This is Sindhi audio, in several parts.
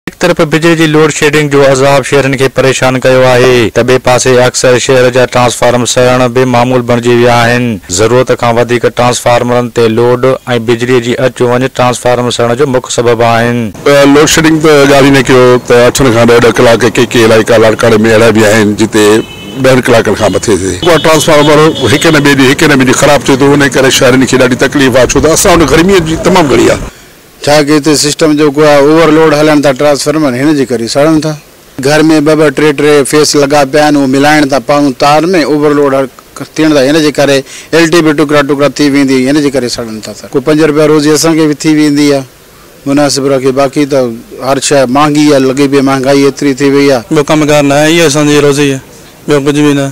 هڪ طرف بجلي جي لوڊ شيڊنگ جو عذاب شهرين کي پريشان ڪيو آهي ته ٻئي پاسي اڪثر شهر جا ٽرانسفارم سڙڻ به معمول بڻجي ويا آهن، ضرورت کان وڌيڪ ٽرانسفارمرن تي لوڊ ۽ بجلي جي اچ وڃ ٽرانسفارم سڙڻ جو مک سبب آهن. لوڊ شيڊنگ ته ڳالهه ئي نه ڪيو ته اٺن کان ڏهه ڏهه ڪلاڪ ڪي ڪي علائقا لاڙڪاڻي ۾ اهڙا به آهن جتي ڏهن ڪلاڪن کان مٿي تي ڪو ٽرانسفارمر هڪ نه ٻئي ڏينهن هڪ نه ٻئي ڏينهن خراب ٿئي ٿو انهي ڪري شهرين کي ڏاڍي تڪليف آهي ڇو ته اسان وٽ گرمي جي تمام گهڻي آهي. ڇا ڪي تي سسٽم جو گويا اوور لوڊ هلڻ تان ٽرانسفارمر هن جي ڪري سڙن ٿا. گهر ۾ ٻه ٻه ٽي ٽي فيس لڳا پيا آهن اهو ملائڻ تان پاون تار ۾ اوور لوڊ ٿيڻ تان هن جي ڪري ايل ٽي به ٽڪرا ٽڪرا ٿي ويندي ۽ هن جي ڪري سڙن ٿا ٿر. ڪو پنج روپيا روزي اسان کي به ٿي ويندي آهي مناسب رکي باقي ته هر شئي مهانگي آهي لڳي پئي مهانگائي ايتري ٿي وئي آهي. ٻيو ڪم ڪار ناهي اهو اسان جي روزي آهي ٻيو ڪجهه به نه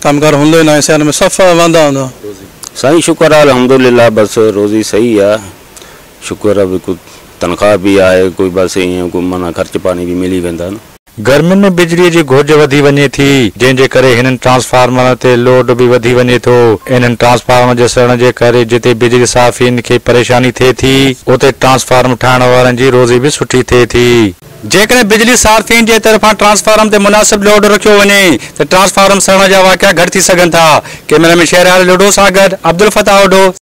ڪم ڪار هوندو ئي ناهي سياري ۾ صفا واندا هوندا آهيون. سائين شڪر آ الحمدلله بس روزي صحيح آ. شڪر آ ڀي ڪو تنخواه ڀي آهي ڪوئي بس ايئن ڪو معنيٰ خرچ پاڻي ڀي ملي ويندا نه. گرمين ۾ بجلي جي گهرج وڌي وڃي ٿي جنهن جي ڪري هنن ٽرانسفارمرن تي لوڊ به وڌي وڃي ٿو انهن ٽرانسفارمرن جي سڙڻ جي ڪري جتي بجلي صارفين کي پريشاني ٿئي ٿي اتي ٽرانسفارم ٺاهڻ وارن جي روزي به سٺي ٿئي ٿي. جيڪڏهن بجلي صارفين جي طرفان ٽرانسفارم تي مناسب لوڊ رکيو وڃي ته ٽرانسفارم سڙڻ جا واقعا گهٽ ٿي سگهن ٿا ڪئميرا مين شهريار لوڍو سان گڏ عبدالفتاح اوڍو.